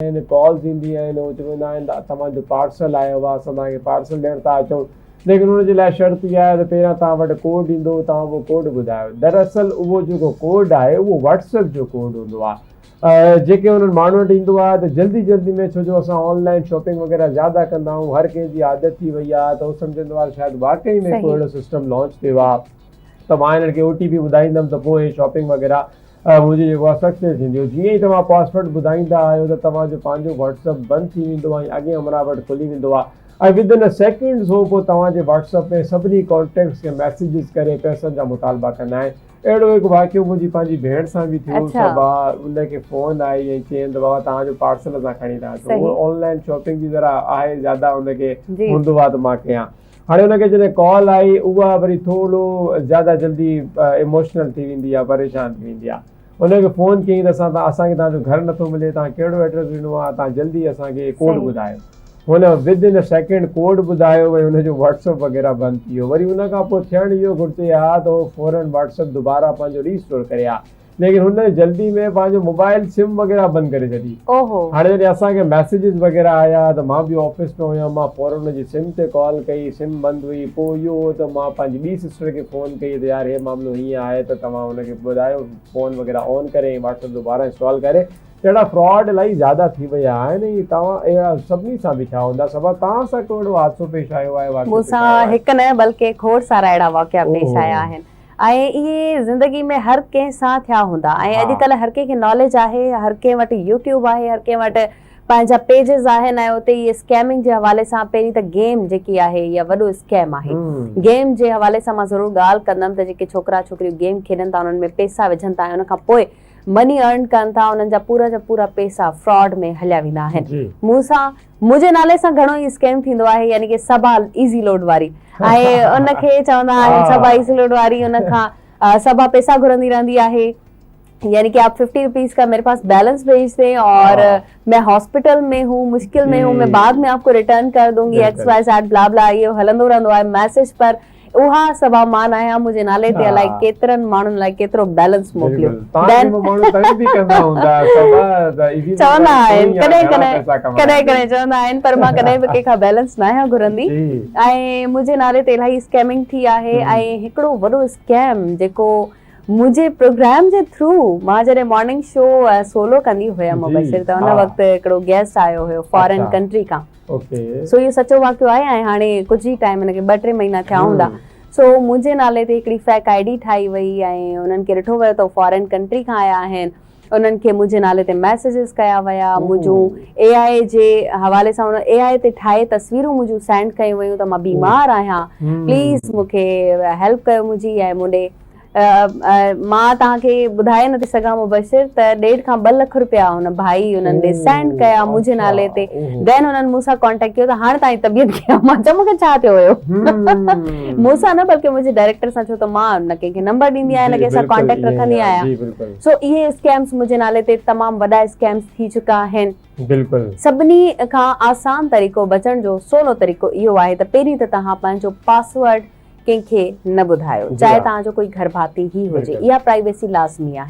۽ Calls ايندي آهن هو چوندا آهن ته توهان جو پارسل آيو آهي اسان توهان کي پارسل ڏيڻ ٿا اچون ليڪن ان جي لاء شرط اها آهي ته پهريان توهان وٽ ڪوڊ ايندو توهان اهو ڪوڊ ٻڌايو دراصل اهو جيڪو ڪوڊ آهي اهو واٽس ايپ جو ڪوڊ هوندو آهي جيڪي انهن ماڻهن وٽ ايندو آهي ته جلدي جلدي ۾ ڇو جو اسان آن لائين شاپنگ وغيره زياده ڪندا آهيون هر ڪنهن جي عادت ٿي وئي آهي ته هو سمجهندو آهي شايد واقعي ۾ ڪو اهڙو سسٽم لانچ ٿيو آهي ته مان هنن کي او ٽي پي ٻڌائيندم ته پوء هي شاپنگ وغيره اها منهنجي جيڪو آهي سڪسيس ٿينديو جيئن ئي توهان پاسورڊ ٻڌائيندا آهيو ته توهان جو پنهنجو واٽس اپ بند ٿي ويندو ۽ اڳين همراهه وٽ کلي ويندو آهي ۽ ودن ا سيڪنڊز هو پوء توهان جي واٽس اپ ۾ سڀني ڪانٽيڪٽس کي ميسيجز ڪري پئسن جا مطالبا ڪندا آهن اهڙو هڪ واقعو منهنجي پنهنجي ڀيڻ سان به ٿيو اڇا. صبح ان کي فون آئي ۽ چيم ته بابا توهان جو پارسل اسان کڻي ٿا اچون هو صحيح. آن لائن شاپنگ جي ذرا آهي زياده ان کي جي. هوندو آهي ته مان ڪيان. هاڻي ان کي جڏهن ڪال آئي اها وري ٿورو زياده جلدي ايموشنل ٿي ويندي آهي پريشان ٿي ويندي آهي ان کي فون ڪيائين ته اسان اسان کي توهان جو گهر نٿو ملي توهان ڪهڙو ايڊريس ڏنو آهي توهان جلدي اسان کي ڪوڊ ٻڌايو هن ود ان سيڪنڊ ڪوڊ ٻڌايو ۽ ان جو واٽسپ وغيره بند ٿي ويو وري ان کان پوء ٿيڻ اهو گهرجي ها ته هو فورن واٽسپ دوباره پنهنجو ري اسٽور ڪري ها ليڪن هن جلدي ۾ پنهنجو موبائل سم وغيره بند ڪري ڇڏي. هاڻي جڏهن اسان کي ميسيجز وغيره آيا ته مان به آفيس ۾ هيم مان فورن هن جي سم تي ڪال ڪئي سم بند هئي پوء اهو هو ته مان پنهنجي ٻي سسٽر کي فون ڪئي ته يار هي معاملو هيئن آهي ته توهان هن کي ٻڌايو فون وغيره آن ڪري ۽ واٽس اپ دوباره انسٽال ڪري ته اهڙا فراڊ الائي زياده ٿي ويا آهن ۽ توهان اهڙا سڀني سان به ٿيا هوندا صبا توهان سان ڪهڙو حادثو پيش آيو آهي واقعو پيش آيو آهي. مون سان هڪ نه بلڪه کوڙ سارا اهڙا واقعا پيش آيا آهن. ۽ اهي زندگي ۾ هر ڪنهن سان ٿيا هوندا ۽ اڄ ڪلهه هر ڪنهن کي ناليج آهي هر ڪنهن وٽ يوٽيوب آهي هر ڪنهن وٽ پنهنجا پيجز آهن ۽ اتي اهي اسڪيمنگ جي حوالي سان پهرين ته گيم جيڪي آهي اها وڏو اسڪيم آهي گيم جي حوالي سان مان ضرور ڳالهه ڪندم ته جيڪي ڇوڪرا ڇوڪريون گيم کيڏن ٿا انهن ۾ پيسا وجهن ٿا ۽ ان کان پوء مني ارن ڪن ٿا انهن جا پورا جا پورا پيسا فراڊ ۾ هليا ويندا آهن مون سان منهنجي نالي سان گهڻو ئي اسڪيم ٿيندو آهي يعني ڪي سبا ايزي لوڊ واري ۽ ان کي چوندا آهن سبا ايزي لوڊ واري ان کان سبا پيسا گهرندي رهندي آهي يعني ڪي آپ 50 روپيز کا ميري پاس بيلنس بھيج دين اور مين هاسپيٽل ۾ هون مشڪل ۾ هون مين بعد ۾ آپ کو ريٽرن ڪر دونگي X Y Z blah blah اهو هلندو رهندو آهي ميسج پر اها سوا مان آهيان منهنجي نالي تي الائي ڪيترن ماڻهن لاء ڪيترو بيلنس موڪليو بين چوندا آهن ڪڏهن ڪڏهن ڪڏهن ڪڏهن چوندا آهن پر مان ڪڏهن به ڪنهن کان بيلنس نه آهيان گهرندي ۽ منهنجي نالي تي الائي اسڪيمنگ ٿي آهي ۽ هڪڙو وڏو اسڪيم جيڪو منهنجي پروگرام جي ٿرو مان جڏهن مارننگ شو سولو ڪندي هيم مبشر ته ان وقت هڪڙو گيسٽ آيو هيو فارن ڪنٽري کان سو اهو سچو واقعو آهي ۽ هاڻي ڪجهه ئي ٽائيم هن کي ٻه ٽي مهينا ٿيا هوندا سو منهنجي نالي تي هڪڙي فيڪ آئي ڊي ٺاهي وئي ۽ انهن کي ڏٺو ويو ته هو فارين ڪنٽري کان آيا آهن انهن کي منهنجي نالي تي ميسيجز ڪيا ويا منهنجون اي آئي اي جي حوالي سان انهن اي آئي اي تي ٺاهي تصويرون منهنجون سينڊ ڪيون ويون ته مان بيمار آهيان پليز مون کي هيلپ ڪيو منهنجي ۽ مون ڏي مان توهان کي ٻڌائي نٿي سگهان مبشر ته ڏيڍ کان ٻه لک رپيا هن ڀائي انهن ڏي سينڊ ڪيا منهنجي نالي تي دين انهن مون سان ڪانٽيڪٽ ڪيو ته هاڻي توهان جي طبيعت ڪيئن آهي مان چيو مون کي ڇا ٿيو هيو مون سان نه بلڪه منهنجي ڊائريڪٽر سان ڇو ته مان نه ڪنهن کي نمبر ڏيندي آهيان نه ڪنهن سان ڪانٽيڪٽ رکندي آهيان سو اهي اسڪيمز منهنجي نالي تي تمام وڏا اسڪيمز ٿي چڪا آهن بلڪل سڀني کان آسان طريقو بچڻ جو سولو طريقو اهو آهي ته پهرين ته توهان پنهنجو پاسورڊ ڪنهن کي نه ٻڌايو چاهي توهان جو ڪوئي گهرڀاتي ئي هجي اها پرائيويسي لازمي آهي.